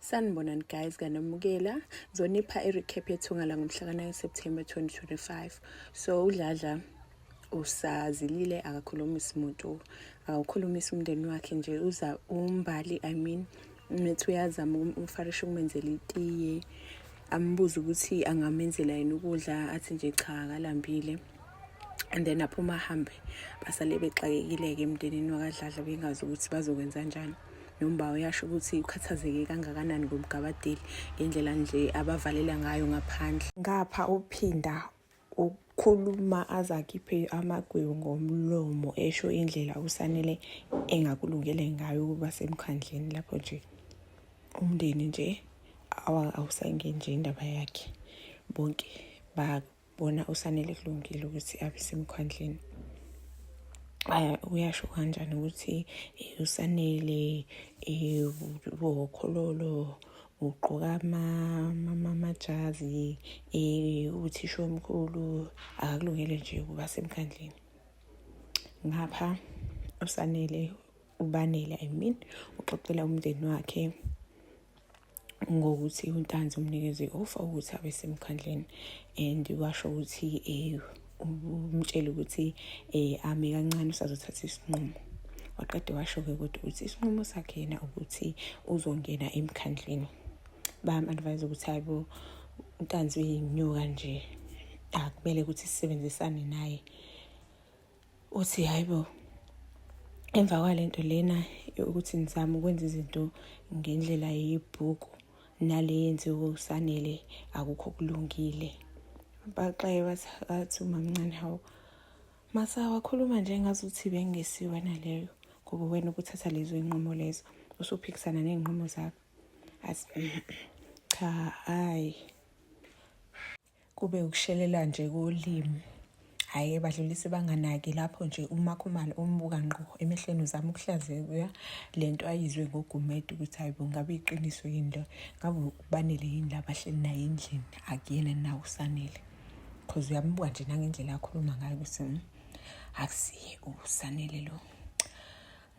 Sanibonani guys kaNomukela ngizonipha i-recap yethunga langomhla ka-9 September 2025 so uDladla usazilile akakhulumisi muntu akawukhulumisi umndeni wakhe nje uza umbali i mean methi uyazama umfarisha ukumenzela itiye ambuze ukuthi angamenzela yini ukudla athi nje cha akalambile and then aphuma ahambe basale bexakekile-ke emndenini wakadladla bengazi ukuthi bazokwenza njani nomba uyasho ukuthi ukhathazeke kangakanani ngomgabadeli ngendlela nje abavalela ngayo ngaphandle ngapha uphinda ukhuluma azakhiphe amagwebu ngomlomo esho indlela usanele engakulungele ngayo ukuba semkhandleni lapho nje umndeni nje awusangeni nje indaba yakhe bonke ba bona usanele kulungile ukuthi abe semkhwandleni uyasho kanjani ukuthi eh, usanele eh, wokhololo ugqoka amajazi eh, uthisha omkhulu akakulungele nje ukuba semkhandlini ngapha usanele ubanele i mean uxoxela umndeni wakhe ngokuthi untanzi umnikeze i-ofa ukuthi abe semkhandleni and washo ukuthi um umtshele ukuthi um ame kancane usazothatha isinqumo waqede washo-ke kodwa ukuthi isinqumo sakhe yena ukuthi uzongena emkhandleni bayam-advise ukuthi hayi bo untanzi uyinyuka nje akumele ukuthi sisebenzisane naye uthi hayi bo emva kwalento lena ukuthi ngizame ukwenza izinto ngendlela yebhuku nale yenziwe usanele akukho kulungile baxaye bathi umamncane hawu masawa khuluma nje ngazuthi bengesiwe naleyo ngoba wena ukuthatha lezo iy'nqumo lezo usuphikisana ney'nqumo zakho athi cha hhayi kube ukushelela nje kolimi hhayi badlulise banganaki lapho nje umakhumalo umbuka ngqo emehlweni uzama ukuhlazeka le nto ayizwe ngogumede ukuthi hayi bo ngabe iqiniso yini lo ngabe ubanele yini la bahleli naye endlini akuyena na usanele because uyambuka nje nangendlela akhuluma ngayo ukuthi hmm, akusiye usanele lo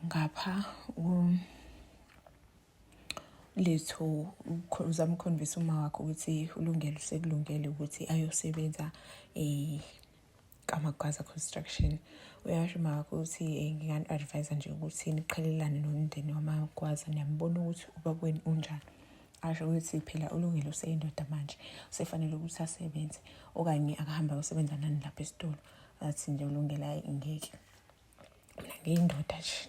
ngapha um, lethu uzama ukukhombisa uma wakho ukuthi ulungele usekulungele ukuthi ayosebenza um kamagwaza construction uyasho uma wakho ukuthi um ngingan-advise nje ukuthi niqhelelane nomndeni wamagwaza niyambona ukuthi ubakweni unjani asho ukuthi phela ulungile useyindoda manje usefanele ukuthi asebenze okanye akahambe ayosebenza nani lapha esitolo athi nje ulungele hayi ngeke mina ngiyindoda nje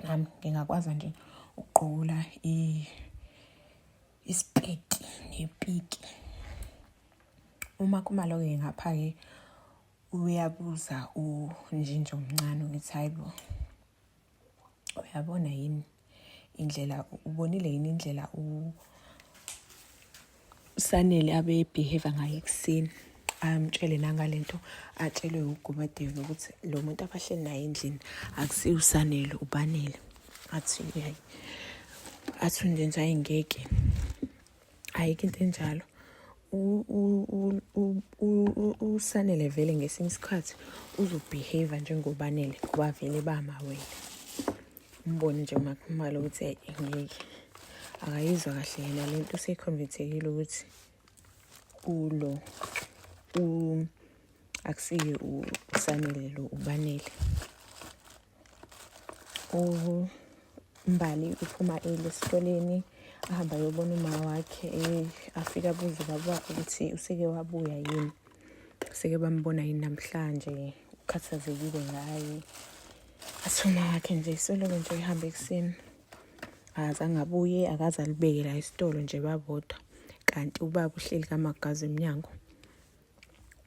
nami ngingakwaza nje ukuqola isipeti nepiki uma kumaloke ngapha-ke uyabuza unjinja omncane ukuthi hayi bo uyabona yini indlela ubonile yini indlela usanele abebehave ngayo ekuseni amtshele nangale nto atshelwe ugumadeni ukuthi lo muntu abahleli naye endlini akusiyo usanele ubanele athi uyayi athi undenza ayingeke ayikho into enjalo usanele vele ngesinye isikhathi uzobehave njengobanele ngoba vele bamawele umbone nje umakhumalo ukuthi engeke akayizwa kahle yena le nto usekhonvethekile ukuthi ulo akusiye usanele lo ubanele umbali uphuma eli esikoleni ahamba yobona uma wakhe eh, afike abuze ubaba wakhe ukuthi useke wabuya yini seke bambona yini namhlanje ukhathazekile ngaye asuma wakhe nje isoloko nje ihamba ekuseni azange abuye akaze alibeke la isitolo nje babodwa kanti ubaba uhleli kamagazi emnyango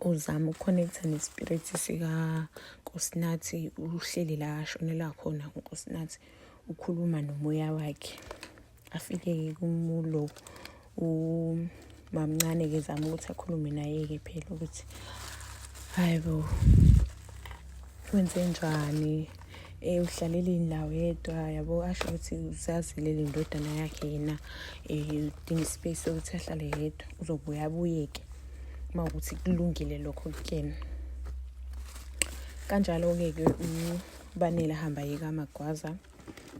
uzama ukukhonektha nespirit sikankosinathi uhleli la ashonela khona unkosinathi ukhuluma nomoya wakhe afike-ke kumulo umamncane-ke zama ukuthi akhulume naye-ke phela ukuthi hayi bo wenze njani um uhlalele indawo yedwa yabo asho ukuthi usazilela indodana yakhe yena um udinga ispace sokuthi ahlale yedwa uzobuye abuyeke uma ukuthi kulungile lokho kuyena kanjalo-ke ke ubanele ahamba yeka amagwaza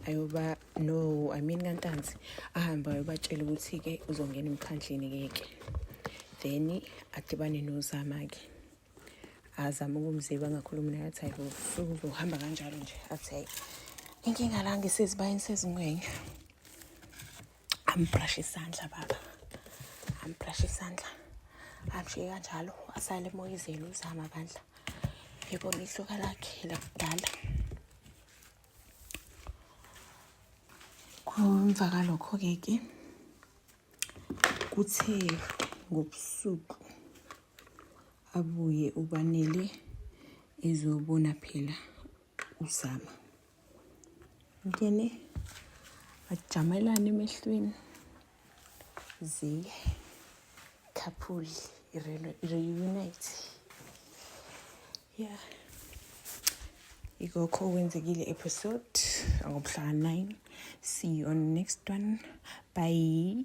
ayoba no i mean kantanzi ahambe ayobatshela ukuthi-ke uzongena emkhandleni-ke ke then adibane nozama-ke azama ukumziba angakhulumi naye athi hayi uzohamba kanjalo nje athi hayi inkinga la ngisezibayeni sezingwenya ambrashe isandla baba ambrashe isandla amshiye kanjalo asale emoyizeni uzama bandla yibona ihluka lakhe lakudala emva kalokho-ke ke kuthe ngobusuku abuye ubanele ezobona phela uzama ngene bajamelane emehlweni ziye couple reunite yeah ikokho okwenzekile episode angobuhlanga 9 see you on next one bye